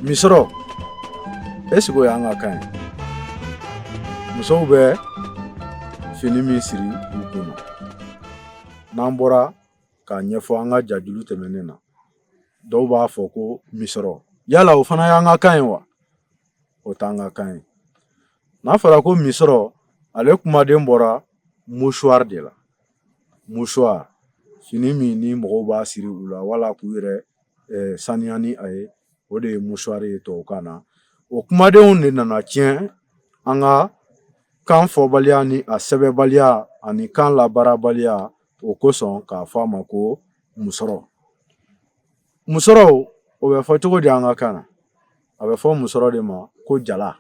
misɔrɔ ɛsiki o y'an ka kan ye musow bɛ fini min siri u kun na n'an bɔra k'a ɲɛfɔ an ka jajulu tɛmɛnen na dɔw b'a fɔ ko misɔrɔ yala o fana y'an ka kan ye wa o t'an ka kan ye n'a fɔra ko misɔrɔ ale kumaden bɔra musuwari de la musuwari fini min ni mɔgɔw b'a siri u la wala k'u yɛrɛ saniya ni a ye o de ye musuwari ye tubabukan na o kumadenw de nana tiɲɛ an ka kan fɔbaliya ni a sɛbɛnbaliya ani kan labaarabaliya o kosɔn k'a fɔ a ma ko musɔrɔ musɔrɔ o bɛ fɔ cogo di an ka kan na a bɛ fɔ musɔrɔ de ma ko jala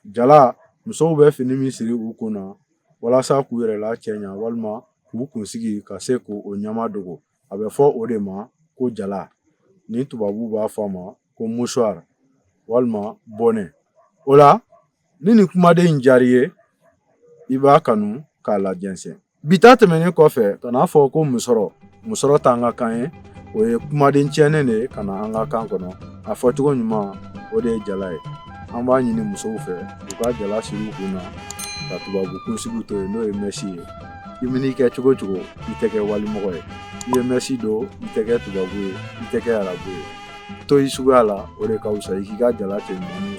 jala musow bɛ fini min siri u kun na walasa k'u yɛrɛ lacɛɲa walima k'u kunsigi ka se k'o ɲaman dogo a bɛ fɔ o de ma ko jala ni tubabu b'a fɔ a ma ko musuwari walima bɔnɛ o la ni nin kumaden in diyar'i ye i b'a kanu k'a lajɛnsɛn bi ta tɛmɛnen kɔfɛ kan'a fɔ ko musɔrɔ musɔrɔ t'an ka kan ye o ye kumaden tiɲɛnen de ye ka na an ka kan kɔnɔ a fɔcogo ɲuman o de ye jala ye an b'a ɲini musow fɛ u ka jala siri u kun na ka tubabu kunsigi to yen n'o ye mɛsi ye i man'i kɛ cogo cogo i tɛ kɛ walimɔgɔ ye i ye mɛsi don i tɛ kɛ tubabu ye i tɛ kɛ arabu ye to i suguya la o de ka wusa i k'i ka jala cɛɲumanninw